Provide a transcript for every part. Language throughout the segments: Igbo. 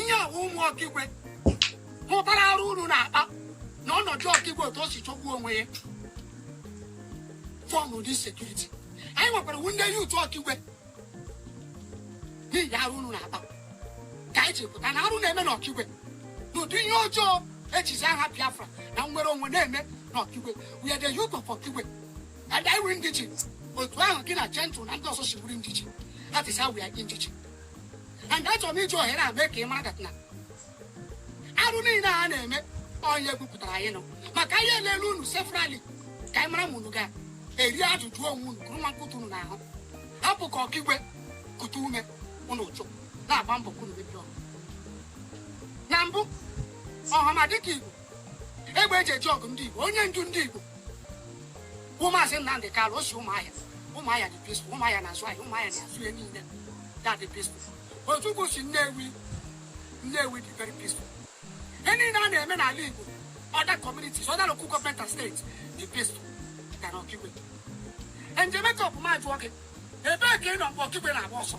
ihe wụ ụmụ ọkigwe hụtara arụ unu na-akpa na ọnọdụ ọkigwe otu o si chọkwuo onwe ya form ụdị security anyị nwa wụ ndị youth ọkigwe n'ihi arụ unu na-akpa ka anyị ji pụta na arụ na-eme n'ọkigwe n'ụdị ihe ọjọọ e jizi aha biafra na nnwere onwe na-eme n'ọkigwe we are the youth of ọkigwe and anyị wụ indigene otu ahụ gị na gentle na ndị ọzọ si bụrụ indigene that is how we are indigene and achọrọ m iji ohere a mee ka ị mara na arụ niile a na-eme onye gwupụtara anyị nọ maka anyị elele unu severally ka anyị mara ma unu ga-eri ajụjụ onwe unu kụrụ nwa nkụtụ unu n'ahụ hapụ ka ọkigwe kutu ume unu ụchụ na-agba mbọ ka unu mebiri ọgụ na mbụ ọhamadike igbo egbe e ji eje ọgụ ndị Igbo onye ndu ndị Igbo bụ maazị Nnamdị Kalụ o si ụmụahịa ụmụahịa dị peaceful ụmụahịa na-azụ ahịa ụmụahịa na-azụ ihe niile that dị peaceful Ojukwu si Nnewi Nnewi dị very peaceful ihe niile a na-eme n'ala Igbo other communities other local government and states dị peaceful na n'Ọkigwe Angel Makeup ma jụọ gị ebee ka ị nọ mgbe Ọkigwe na-agba ọsọ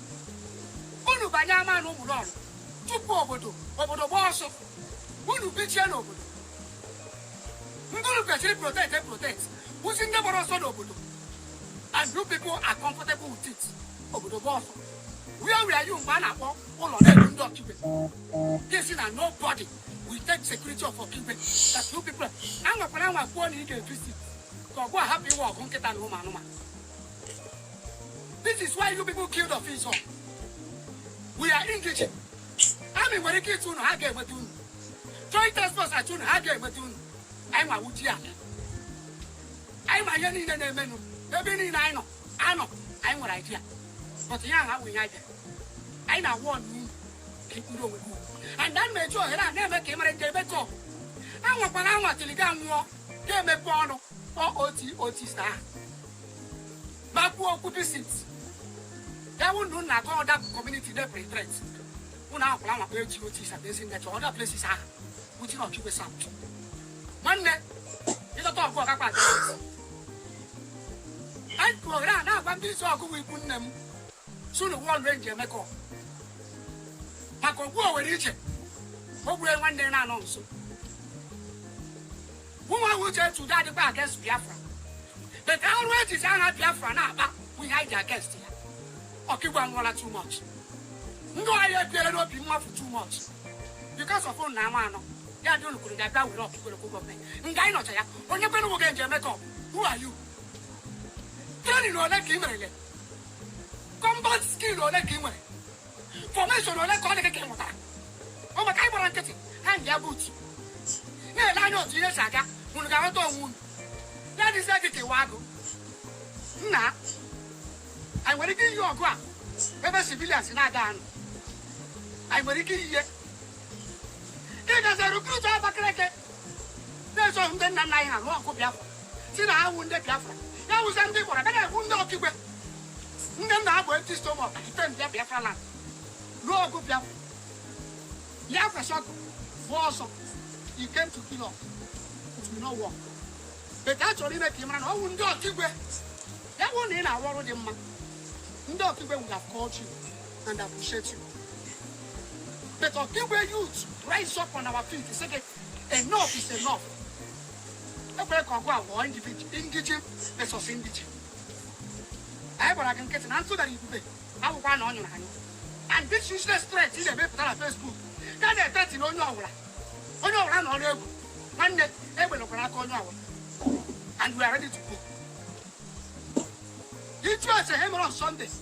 unu banye ama na ụgbụrụ ọrụ chụpụ obodo obodo gbaa ọsọ unu bichie n'obodo ndị unu kwesịrị protect and protect wụzi ndị gbara ọsọ n'obodo and you people are comfortable with it obodo gbaa ọsọ where were you mgbe a na-akpọ ụlọ na-egbu ndị ọkigwe this na nobody will take security of ọkigwe that you people anwakwara anwa kwuo na ị ga-evisit ka ọgụ ahapụ iwe ọgụ nkịta na ụmụ anụmanụ This is why you people killed of his own. We are indigene. Army nwere ike ịchụ unu ha ga-enweta unu. Joint task force achụ unu ha ga-enweta unu. Anyị nwa wuji ya. Anyị ma ihe niile na-emenụ. Ebe niile ị nọ anọ, anyị nwere idea. But ihe ahụ awụghị anyị Anyị na-awụ ọnụ unu ka ị kpụrụ onwe gị. And that m na-eji ohere a na-eme ka ị mara Angel Makeup. Anwakwala anwa till ị ga-anwụ gị emepe ọnụ. kpọọ oti otista ahụ ma kwuo okwu visit ya wụ ndị na-atụ other community na-epere threat ụnụ akwụla nwakpa eji otista bụ ezinachi other places ahụ which is ọkigwe south nwanne ịchọta ọgụ ọkakpa adị anyị kwuohere a na-agwa ndị isi ọgụgụ ikwu nne m sunu wọl angel makeup maka ogbu owere iche o gbue nwanne na-anọ nso ụmụ ahụ ji etu ụdị adịkwa against biafra but arụ e jizi aha biafra na-akpa bụ ihe anyị ji against ya ọkigwe anwụọla too much ndị anyị ebiere n'obi mmafu too much because of ụnụ na ama anọ ya dị ụnụ kwuru ga bịa were ọkigwe local government nga anyị nọcha ya onye kwere nwoke angel makeup who are you training ole ka ị merele combat skill ole ka ị nwere formation ole ka ọ dị gị ka ị mụtara ọ maka anyị gbara nkịtị hangịa boot na-ele anya otu ihe si aga unu ga-aghọta onwe unu ya dịzie gị ka ị wụ agụ nna anyị nwere ike iyi ọgụ a ebe civilians na-aga anọ anyị nwere ike iyi ihe ị gazie recruit Abakaliki na-eso ndị nna nna anyị ha lụọ ọgụ Biafra sị na ha wụ ndị Biafra ya wụzie ndị gbara bịa na-egbu ndị Okigwe ndị nna ha bu empty stomach defend Biafra land lụọ ọgụ Biafra ya kwesị ọkụ bụ ọsọ you came to kill us it will not work but a chọrọ ime ka ị mara na ọ wụ ndị Okigwe ya wụ na ị na-arụ ọrụ dị mma ndị Okigwe would have called you and appreciate you. But Okigwe youth rise up on our feet and say that enough is enough. E kwere ka ọgụ a wụọ indigene versus indigene. Anyị gbara gị nkịtị na ntụdara ibube akwụkwọ na ọ nyụrụ anyị. And this useless threat ị na-emepụta na Facebook ka ị na-etreti na onye ọbụla onye ọbụla na ọrụ egwu nwanne egbelekwara aka onye ọbụla and we are ready to go. It was a hammer on Sundays.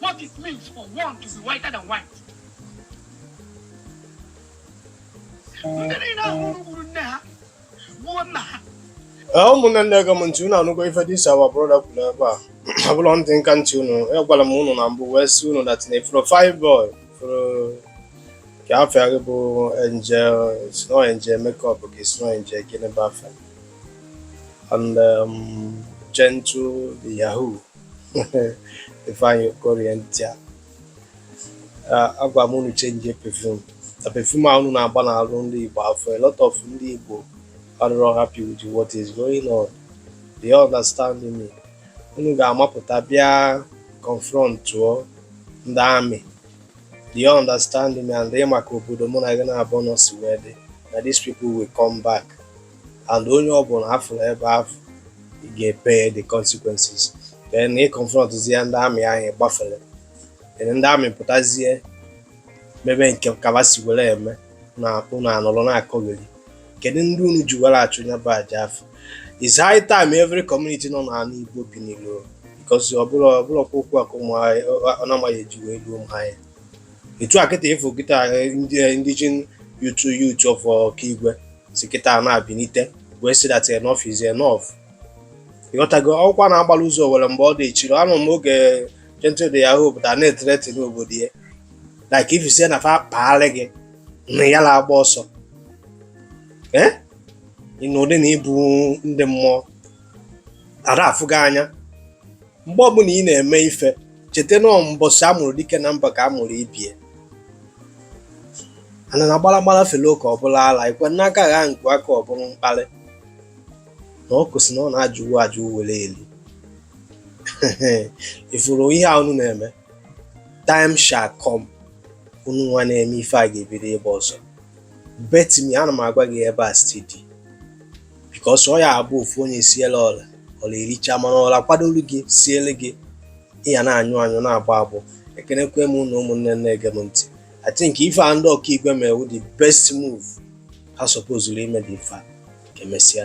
what it means for one to be whiter than white. ndị niile ahụ gburu nne ha gbuo nna ha ụmụnne gee m ntị unu anụgo ife this our brother kwuru ebe a abụrọ ntị nka ntị unu agwara m unu na mbụ wee sị unu that na fine boy afụ ka afa ya bụ Angel it's not Angel Makeup it's not Angel gịnị bụ afa ya and um, Gentle the Yahoo Ifeanyi Okorienta agwa m unu change perfume na perfume a unu na-agba n'arụ ndị Igbo afọ a lot of ndị Igbo adịrọ happy with what is going on do you understand me unu ga-amapụta bịa confrontụọ ndị army do you understand me and ị ma ka obodo mụ na gị naabọ nọ si wee dị na these people will come back and onye ọbụla a fụlụ ebe afọ ị ga-pay the consequences then ị confrontzie ndị army ahụ gbafere ndị army pụtazie mebe nke ka ba si were eme na unu anọrọ na-akọgheri kedu ndị unu ji were achụ nya bụ aja afọ it's high time every community nọ n'ala Igbo binilie because ọ bụrụ ọbụrụ ọkwa okwu a ka ụmụ anyị ọ na-amaghị eji wee ruo ụmụ anyị etu a kịta ị fụ kịta indigene youth youth of Okigwe si kịta na-abinite wee sị that enough is enough ị ghọtago ọkwa a na-agbala ụzọ owere mgba ọ dị echiri anụ m oge Gentle de Yahoo pụta na-etreti n'obodo ya like if you say na fa kpaarị gị na ya na-agba ọsọ ị nọdụ na ị bụ ndị mmụọ a da afụ gị anya mgbe ọbụla ị na-eme ife cheta na mbọsị a mụrụ dike na mba ka a mụrụ ibie ana na gbalagbala fele oke ọ bụrụ ala ikwe n'aka gha nkwu aka ọ bụrụ mkpali na ọ kwụsị na ọ na-ajụwu ajụ were eli ị fụrụ ihe a unu na-eme time shall come unu nwa na-eme ife a ga-ebido ịgba ọsọ bet me ana m agwa gị ebe a steady because ọ ya abụ ofu onye siele ọla ọla ericha mana ọla kwadolu gị siele gị ị ya na-anyụ anyụ na-agbọ agbọ ekenekwe m unu ụmụnne na-ege m ntị I think ife a ndị Okigwe me wụ the best move ha supposed ime dị ife a ka emesịa